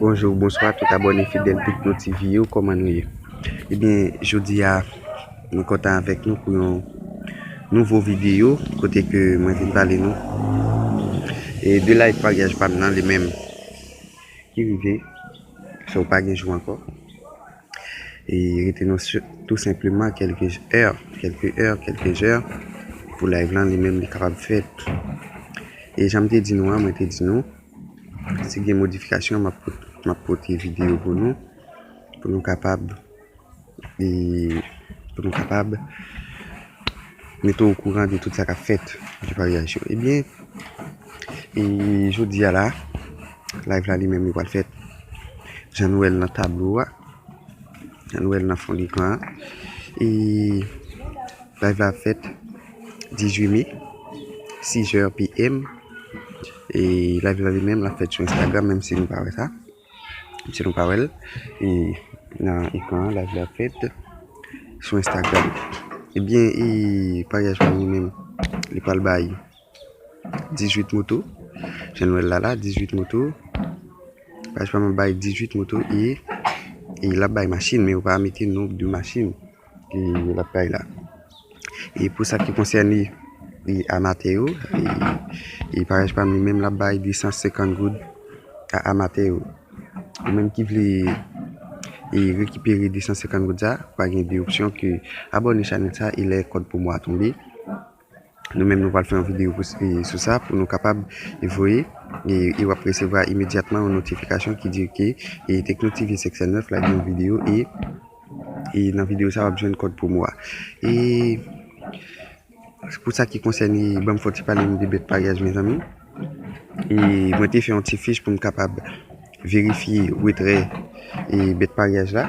Bonjour bonswa tout abòne fidèl Picno TV yo kòman nou ye ebyen jodi a mwen kontan avèk nou pou yon nouvo videyo kote ke mwen vin pale nou e de live paryaj pa m nan li menm ki rive se ou pa gen jou ankò E rete nan sut tou senpleman kelke è, kelke è, kelke jè pou live lan li menm li kapab fèt. E jan m te di nou an, mwen te di nou, si gen modifikasyon map map pote video pou nou, pou nou kapab e pou nou kapab mete w okouran de tout sa kap fèt, de paryaj yo. Ebyen, e jodi a la. Live la li menm li pral fèt jan nou wè l nan tablo a, jan nou wè l nan fon lekran an. E live la ap fèt 18 me 6 heures PM. E live la li menm l ap fèt sou Instagram menm si nou pa wè sa, menm si nou pa wè l. E nan ekran an live la ap fèt sou Instagram. Ebyen e paryaj pa nou menm li pral bay. 18 moto jan nou wèl la la 18 moto paj pa mwen bay 18 moto e e lap bay machin men yo pa mete non de machin e yo lap bay la e pou sa ki konsène e amatè yo e paj pa mwen menm lap bay 250 goud a amatè yo ou menm ki vle e rekipere 250 goud sa pa gen de opsyon ke abòne chanèl sa e lè kòd pwomo a tonbe Nou menm nou pral fè yon video sou sa pou nou kapab voye e wap resevwa imedyatman yon notifikasyon ki di ke Tekno TV 509 la gen yon video e nan video sa wap jwenn kòd promo a. E pou sa ki konsène banm fon ti pale nou de bèt paryaj mezanmi. E mwen te fè yon ti fich pou m kapab verifye retrè e bèt paryaj la.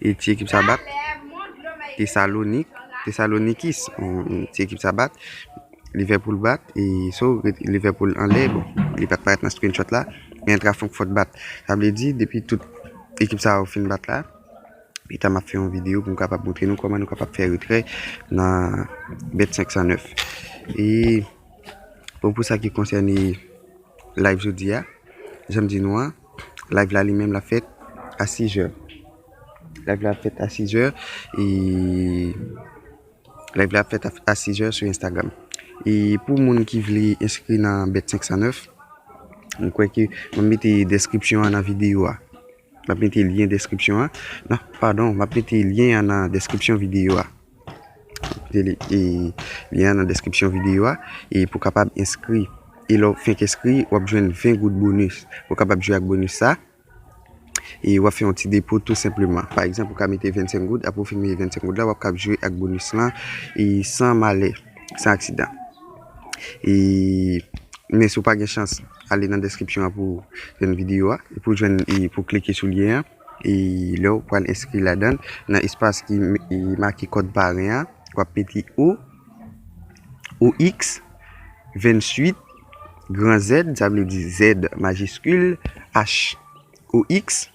E ti ekip sa bat Tesalonik, Tesalonikis. Ti ekip sa bat Liverpool bat e so Liverpool anlè bon, li pat parèt nan screenshot la, men Eintracht Frankfurt bat. Sa vle di depi tout ekip sa yo fin bat la, pi ta map fè yon video pou m kapab montre nou koman nou kapab fè retrè nan bet 509. E bon pou sa ki konsène live jodi a, janm di nou an. Live la li menm l ap fèt a 6 zè. Live la ap fèt a 6 zè e Live la ap fèt a 6 zè sou Instagram. E pou moun ki vle enskri nan Bet 509, m kwè ke m ap mete deskripsyon an nan videyo a. M ap mete lyen deskripsyon an. Non, padon, m ap mete lyen an nan deskripsyon videyo a. Lyen an nan deskripsyon videyo a e pou kapab enskri e lè ou fenk enskri wap jwenn 20 goud bonus pou kapab jwe ak bonus sa e wap fè yon ti depo tou senpleman pa egzanp ou ka mete 25 goud apre ou fin mete 25 goud la wap kab jwe ak bonus lan e san malè san aksidan e men si ou pa gen chans ale nan deskripsyon an pou jwenn videyo a pou jwenn e pou klike sou lyen an. E lè ou pral enskri ladan l, nan espas ki make kòd paren an, w ap mete O, OX, 28, gran Z, sa vle di Z majiskil, H, OX,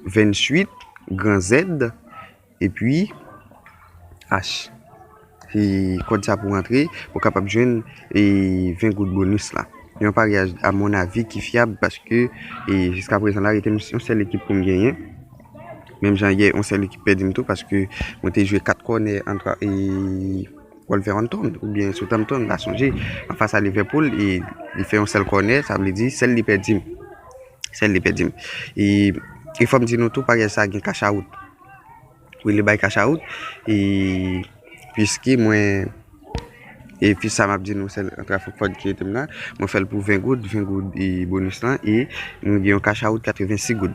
28, gran Z, Epi Acht kòd sa pou rantre pou kapab jwenn 20 goud bonus la. Yon paryaj a mon avi ki fyab paske jiska prezan la rete m yon sèl ekip pou m genyen. Menm jan yè yon sèl ekip pèdi m tou paske mwen te jwe 4 kònè antre Wolverhampton oubyen Southampton m pa sonje anfas a Liverpool e li fè yon sèl kònè sa vle di sèl li pèdi m. Sèl li pèdi m. E e fò m di nou tou pagay sa gen kachawout. Wi li bay kachawout e piske mwen e pi sa m ap di nou sèl antre avk kòd ki rete m nan. Mwen fè l pou 20 goud, 20 goud e bonis lan e nou gen yon kachawout 86 goud.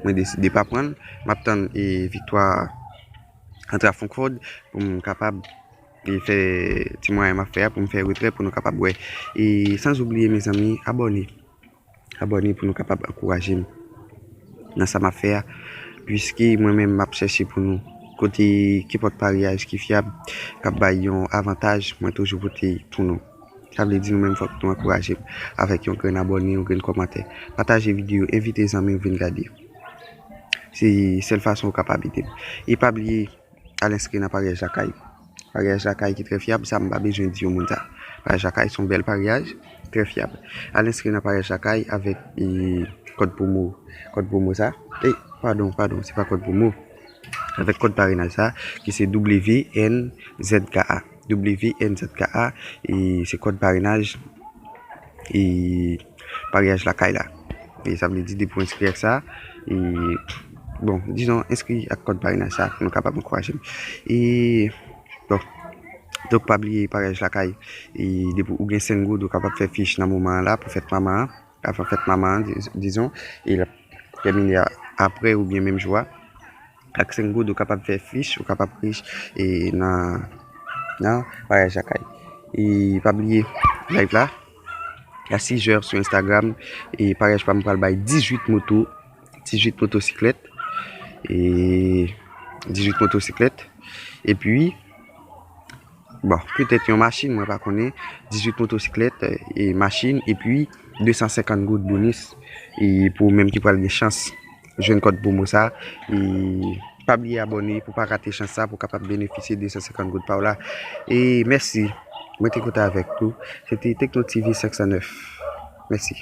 Mwen deside pa pran l. M ap tann e viktwa antre avk kòd pou m kapab e fè ti mwayen m ap fè a pou m fè retrè pou nou kapab wè. E san oubliye mezanmi abòne. Abòne pou nou kapab ankouraje m nan sa map fè a puiske mwen menm map chèche pou nou kote kenpòt paryaj ki fyab kap bay yon avantaj mwen toujou pote pou nou sa vle di nou menm fòk nou ankouraje m avèk yon grenn abòne yon grenn kòmantè pataje videyo envite zanmi w vin gade se sèl fason ou kapab ede m e pa bliye Al enskri nan paryaj lakay. Paryaj lakay ki trè fyab, sa m pa bezwen di yon moun sa. Paryaj lakay son bèl paryaj, trè fyab. Al enskri nan paryaj lakay avèk kòd pwomo, kòd pwomo sa. Ey, padon, padon, se pa kòd pwomo. Avèk kòd parenaj sa ki se WNZKA. WNZKA e se kòd parenaj e paryaj lakay la. E sa vle di depi w enskri ak sa e bon dizon enskri ak kòd parenaj sa pou nou kapab ankouraje m. E bon donk pa bliye paryaj lakay e depi ou gen 5 goud ou kapab fè fich nan moman an la pou fèt manman an, avan fèt manman an dizon e l ap tèmine aprè oubyen menm jou a. Ak 5 goud ou kapab fè fich, ou kapab rich e nan nan vwayaj lakay. E pa bliye live la a 6 jè sou Instagram e parèj pam pral bay 18 moto, 18 motosiklèt e 18 motosiklèt epi. Bon, petèt yon machin, mwen pa konnen, 18 motosiklèt, e machin, epi 250 goud bonis, e pou ou menm ki pral gen chans jwenn kòd pwomo sa, e pa bliye abòne pou pa rate chans sa pou w kapab benefisye 250 goud pa w la. E mèsi, mwen te kontan avèk ou. Se te Tekno TV 509. Mèsi.